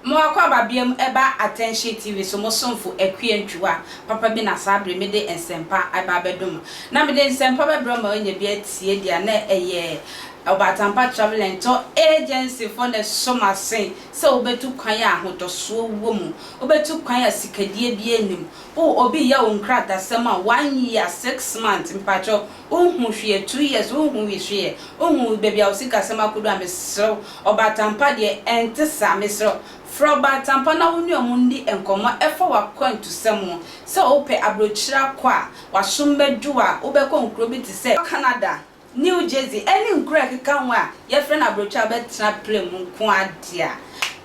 Mo akwaaba biam ɛba Attention TV so mo somfo Akua Ntwiwa papa bi na saa bere me de nsɛmpa ɛba abɛdom mo na me de nsɛmpa bɛbrɛ mo a ɔnya bi atie deɛ a na ɛyɛ Ɔbatampa Travel and Tour Agency foɔ na ɛso m'asen Sɛ wobetu kwan a ahotosoɔ wɔ mu, wobetu kwan a sikadie biara nnim. O, obi reyɛ wo nkratasɛm a one year, six months, mpakyɛw, wonhu hwee, two years, wonhu hwee, wonhu baabi a wo sikasɛm akodu a, mesrɛ wo, ɔbaatampa deɛ, ɛnte saa, mesrɛ wo, frɛ ɔbaatampa na wo ne wɔn nni nkɔmmɔ ɛfa w'akwantusɛm ho. Sɛ wopɛ aburokyire akɔ a, w'aso mmɛdwo a, wobɛkɔ nkuro bi te sɛ, Canada, New Jersey ɛne nkuro a ɛkeka ho a yɛfrɛ no abrotwa a wobɛtena plane mu nko ara deɛ a,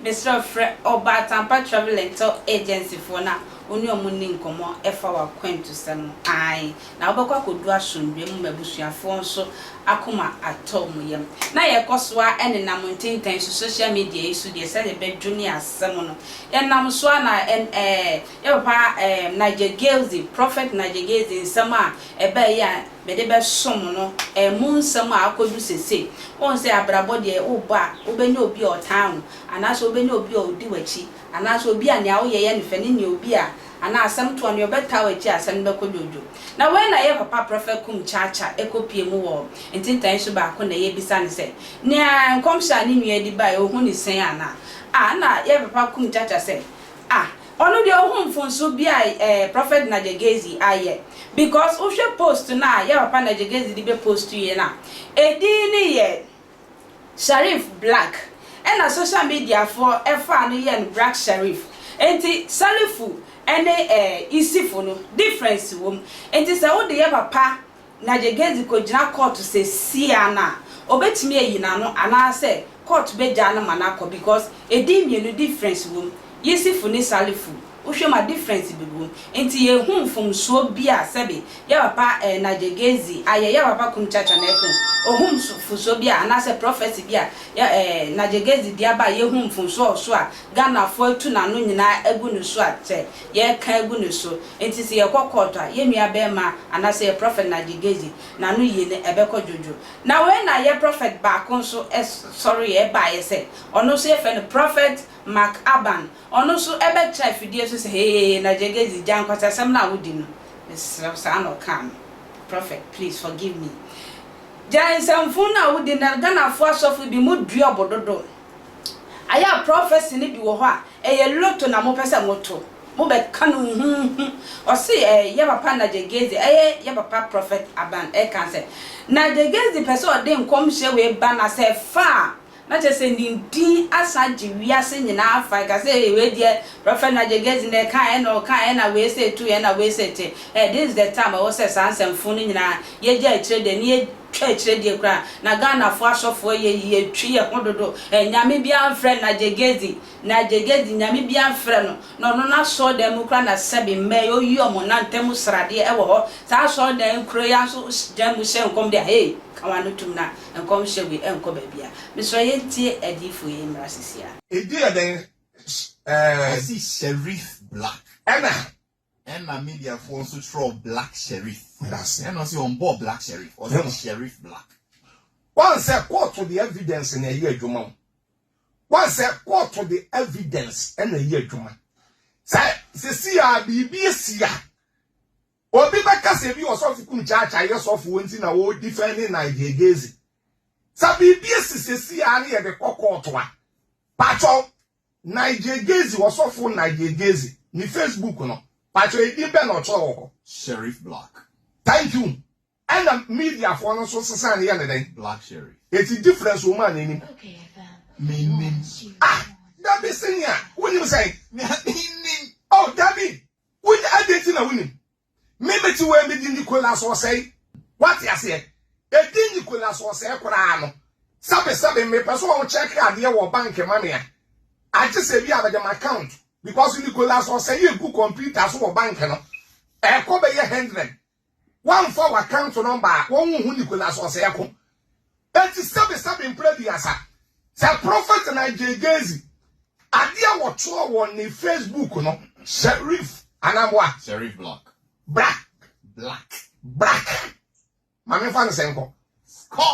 mesrɛ wo frɛ Ɔba Atampa Travel Lentil Agency foɔ na wo ne wɔn nni nkɔmmɔ fa w'akwantusɛm ho aane na wobɛkɔ akɔdu asomdwoeɛ mu ma abusuafoɔ nso akoma atɔ wɔn yam. Na yɛkɔ so ara nenam ntentɛn so, social media yi so deɛ sɛdeɛ bɛdwo ne asɛm no yɛnam so ara na ɛn ɛɛ yɛ papa ɛɛ Nigel Gilsey, Prophet Nigel Gilsey nsɛm a ɛbaeɛ yi a mede bɛsom no, ɛmmu nsɛm a akodu sesei. Wohu sɛ abrabɔ deɛ wobɔ a, wobɛnya obi a ɔtaa wo, anaasɛ wobɛnya obi a ɔdi w'akyi, anaasɛ obi a nea woyɛ yɛ no fɛ, ne nea obi a, anaa asɛm toɔ no, nea ɔbɛtaa wo akyi a asɛm no bɛkɔ dwoodwoo. Na wei na yɛn papa Prɔfɛt Kum Cha Cha kɔpuee mu wɔ ntentan su baako na yɛbisa no sɛ, nea nkɔmhyɛ a ne nua de baeɛ, ɔhu ne sɛn anaa? Ah, ɛnna yɛn papa Kum Cha Cha sɛ, Ah, Ɔno deɛ ohu mfonso bia eh prophet Najegezi ayɛ because wohwɛ post no a yɛ papa Najegezi de bɛ post yɛ no a ɛdin no yɛ Sharif Black ɛna social media foɔ ɛfaa no yɛɛ no Brack Sharif nti Salifu ɛne eh Isifo no difference wɔ mu nti sɛ wode yɛ papa na Gyegezi kogyina kɔɔto sesia no a, obetumi ayi n'ano anaasɛ kɔɔto begyaa no ma no akɔ because edin mmienu difference wom, Yisifu ne Salifu, wohwɛ mu a difference bi wom. Nti yɛnhu mfomsoɔ bi a sɛbe yɛ papa eh, na Gyegezi ayɛ, yɛ papa Kumchacha na ɛka ho, ohu mfomsoɔ bi a anaasɛ prophecy bi a yɛ eh, na Gyegezi de aba a yɛhu mfomsoɔ a ɔso a Ghanafoɔ atu n'ano nyinaa agu no so a sɛ yɛka agu no so. Enti sɛ yɛkɔ kɔɔto a, yɛn nuabarima anaasɛ yɛn prɔfɛt Naji Gezi, n'ano yie no, ɛbɛkɔ dwodwo. Na wei na yɛn prɔfɛt baako nso sɔreeɛ, ɛbaeɛ sɛ, ɔno nso yɛfrɛ no Prɔfɛt Mark Aban. Ɔno nso bɛtena afidie so sɛ, Hee, Naji Gezi, gya nkwaseasɛm no a wodi no, mesrɛ wo, saa na ɔkaa me, Prɔfɛt, please forgive me. Gya nsɛmfunu no a wodi no, Ghanafoɔ asɔfo bi, modua ɔbo dodo. Ayɛ a prɔfɛse no bi wɔ hɔ a, ɛyɛ loto na mopɛ sɛ moto. Mobɛka no huhuuhu. Ɔse ɛɛ yɛ papa Najegezi ɛyɛ yɛ papa Prɔfɛt Aban ɛka sɛ, Najegezi pɛ sɛ ɔde nkɔmhyɛ wei ba na sɛ ɛfa a, na kyerɛ sɛ ne din asan agye wiase nyinaa afa. Ɛka sɛ ee wei deɛ Prɔfɛt Najegezi na ɛkaeɛ na ɔkaeɛ na wei se tuiɛ na wei se te. Ɛɛ this is the time a ɛwɔ sɛ saa nsɛmfoo no nyinaa yɛgya akyire deɛ na yɛ twa akyire deɛ koraa na Ghanafoɔ asɔfoɔ yɛ yie twe yɛn ho dodo ɛ Nyame biara mfrɛ Najegezi Najegezi Nyame biara mfrɛ no na ɔno n'asɔɔdan mu koraa na sɛbe mmɛ yɛ ɔyi ɔmo na ntɛm mu sradeɛ ɛwɔ hɔ saa asɔɔdan nkuro yi ara nso dan mu hyɛ nkɔm deɛ a hee ka w'ano tum na nkɔm hyɛ wei ɛnkɔ baabi a mesrɛ yɛn tie adiyifoɔ yi mmra sisi a. Edin yɛ dɛn? Ɛɛ. Ɛsi Sheriff Black. Ɛna Ɛna media foɔ nso twerɛɔ black sherif. Medase. Ɛna ɔse ɔnbɔɔ black sherif, ɔse Hema. sherif black. Wansɛ kɔɔto de evidence na ɛyɛ adwuma o. Wansɛ kɔɔto de evidence na ɛyɛ adwuma. Sɛ sesei a biribi asi a, obi bɛka sɛ ebi ɔsɔfo kum Chacha yɛ sɔfo nti na ɔ defend Nigel Gezi. Sɛ biribi asi sesei a na yɛde kɔ kɔɔto a, pakyɛw Nigel Gezi Ɔsɔfo Nigel Gezi ne Facebook no, pakyɛ edin bɛn na ɔkyerɛw wɔ hɔ? Sheriff Black. Thank you. Ɛna media foɔ no nso sesaa no yɛ no dɛn? Black Sheriff. Eti difference wɔ mu a na enim? Me nnim. Ah! Dabi senior, wo nim sɛn? Me nnim. Oh dabi, wo nim, adɛn nti na wo nim? Me mete wei me di Nicholas ɔsɛe. Wate aseɛ? Ɛdi Nicholas ɔsɛe koraa no. Sɛbe sɛbe mepɛ sɛ ɔwo check adeɛ wɔ bank ma me a, agye sɛ bi a mede m'account because Nicholas ɔsɛe ɛgu computer so wɔ bank no. Ɛkɔ bɛyɛ hundred. Woamfa w'account number a, wɔnhu Nicholas ɔsɛe ko. Eti sɛbe sɛbe mpere aduasa, sɛ Prophet Nigel Gezi, ade a wɔtwerɛ wɔ ne Facebook no, Sherif anaa boa? Sherif Black. Black. Black. Black. Ma me nfa no sɛ nkɔ. Skɔ.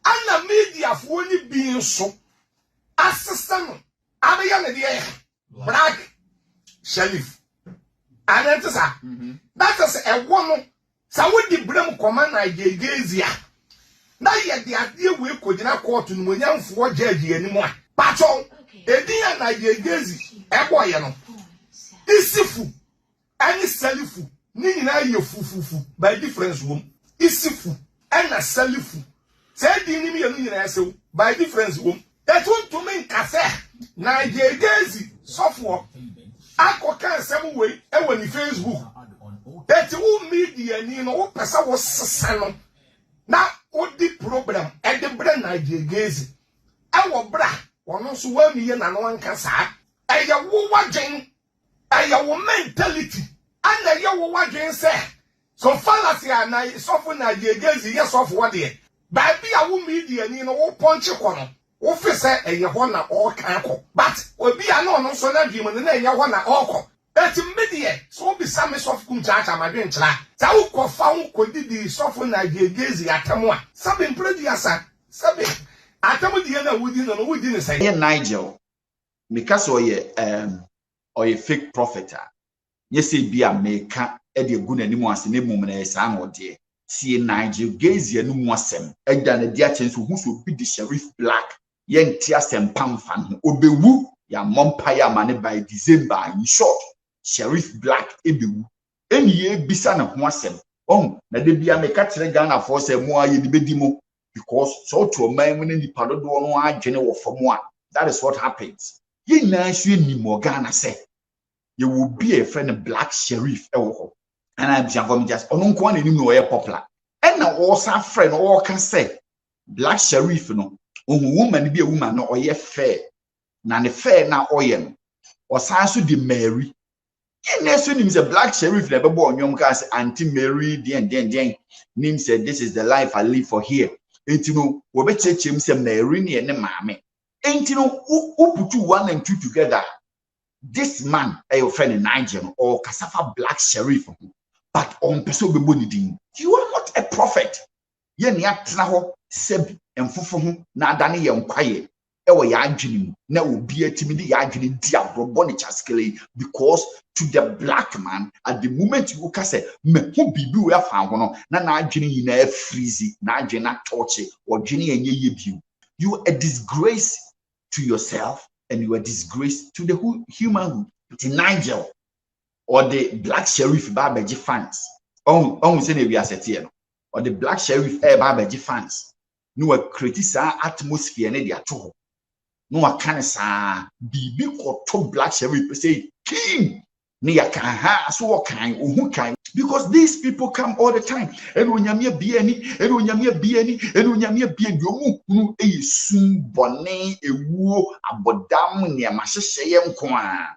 Ɛna mediafoɔ no bi nso asesa no abɛyɛ ne deɛ. Black Shelif. Adɛn nti saa? Mm-hmm. Na kyerɛ sɛ ɛwɔ no, sɛ wode berɛ mu kɔma Nigeria a, na yɛde adeɛ wei kɔgyina kɔɔto no mu onyamfoɔ gyɛɛgye anim a. Patwɔw, edin a Nigeria ɛbɔɔyɛ no, Isifu ɛne salifu ne nyinaa yɛ fufufu by difference wom isifu ɛna salifu saa din ne mmienu nyinaa ɛsew by difference wom. Yɛto ntumi nka sɛ na gyegyeedzi sɔfoɔ akɔ ka nsɛm wei ɛwɔ ne facebook ɛti wo media ni no wo pɛ sɛ wo sesa no na wo di problem ɛde brɛ na gyegyeedzi ɛwɔ bra wɔn nso wɔn amiyɛ na no anka saa ɛyɛ wo wadwen Ɛyɛ wo mentality ɛna ɛyɛ wo wadwen sɛ so fallacy a na sɔfo na gyegezi yɛ sɔfo hɔ deɛ baabi a wo media ni no wo pɔnkye kɔ no wo fe sɛ ɛyɛ hɔ na ɔɔkan kɔ but obi a na ɔno nso na dwen mu no na ɛnyɛ hɔ na ɔɔkɔ but me deɛ sɛ wo bisa me sɔfo kum kyaakya ma dwen kyera sɛ wo kɔ fa ho kɔ di di sɔfo na gyegezi atɛm a sɛbe mpere duasa sɛbe atɛm die na wo di no no wo di no sɛn. Nigel meka sɛ ɔyɛ um, ɔyɛ fake prophet a nyɛ sɛ bi a meka de agu n'anim ase na mmom na ɛyɛ saa na ɔdeɛ sie nigel gazia no mu asɛm ɛda no adi akyɛ nso hu sɛ obi de sharif black yɛnte asɛmpa mfa no ho ɔbɛwu yɛammɔ mpaeɛ ama ne bae december in short sharif black ɛbɛwu ɛne yɛbisa ne ho asɛm ɔhu na da bia meka kyerɛ Ghanafoɔ sɛ mo a yɛde bɛdi mo because sɛ wote ɔman mu ne nipa dodoɔ no adwene wɔ fam a that is what happens yɛn nyinaa nso yɛnim wɔ Ghana sɛ yɛwɔ obi a yɛfrɛ no Black Sherif ɛwɔ hɔ ɛna abusuafoɔ megya sɛ ɔno nko a na anim na ɔyɛ popular ɛna ɔsan frɛ no ɔka sɛ Black Sherif no ɔhu woman bi a woman no ɔyɛ fair na ne fair na ɔyɛ no ɔsan so de Mary Yɛn na ɛso nim sɛ Black Sherif na ɛbɛbɔ ɔnwom kaa sɛ Auntie Mary deɛn deɛn deɛn nim sɛ this is the life I live for here. Enti no wɔbɛkyerɛkyerɛ mu sɛ Mary ne yɛ ne maame. Enti no woputu one and two together a this man ɛyɛ ɔfrɛ ne Nigel no ɔrekasa fa Black Sherif ho but ɔmpɛ sɛ ɔbɛbɔ ne din. You are not a prophet. yɛne atena hɔ sɛbi mfofo ho na adane yɛn kwaeɛ ɛwɔ yɛn adwene mu na obia tumi de yɛn adwene di agorɔ bɔ ne kyaskele yi because to the black man at the moment wo ka sɛ mahu biribi wɔ afa ho no na n'adwene nyinaa freeze n'adwene na tɔɔkye ɔdwene ɛnyɛ yɛ bio you a disgrace to yourself and you a disgrace to the humanhood nti Nigel ɔde black sheriff ba abɛgye fans ɔhu ɔhu sɛ na ewiase teɛ no Ɔde black sheriff ɛɛba abɛgye fans na wakreti saa atmosphere no de ato hɔ na waka no saa biribi kɔto black sheriff pɛ sɛ king ne yɛka ha so wɔ kan ohu kan because these people come all the time ɛna onyame abie ani ɛna onyame abie ani ɛna onyame abie ani ɔmo hunu ɛyɛ sum bɔne ewuo abɔdam nneɛma hyehyɛeɛ nko a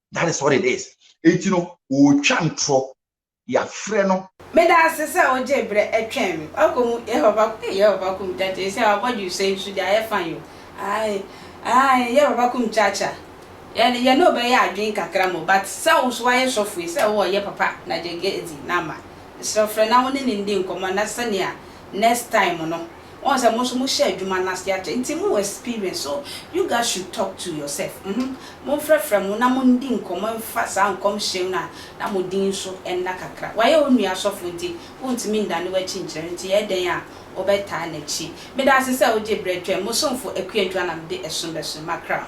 that is what it is eti no ɔretwa ntorɔ yafrɛ no. Meda ase sɛ wogyee berɛ ɛtwɛn me. Wakɔ mu yɛ papa kum ee yɛ papa kum kyaakyaa ɛsei our body you say nso deɛ ayɛ fine o ae ae yɛ papa kum kyaakyaa yɛ yɛ ne wobɛyɛ adwen kakra mo but sɛ wo so wayɛ sɔfo yi sɛ wowɔ yɛ papa na gyɛgɛ di na ama mesrɛ frɛ na wo ne ne ndi nkɔmɔ na sɛnea next time no Wɔn sɛ mo nso mo hyɛ adwuma no ase akyɛ nti mo wɔ experience so you guys should talk to yourself mhm mo nfrɛfrɛ mo na mo ndi nkɔmɔ nfa saa nkɔmhyɛ no a na mo din nso nna kakra wayɛ wo nua sɔfo nti wo ntumi ndane wakyi nkyerɛ no nti yɛ dɛn a wo bɛ taa nakyi meda ase sɛ wo gye brɛ twɛn mo somfo Akua Juanam de ɛsom bɛso makra.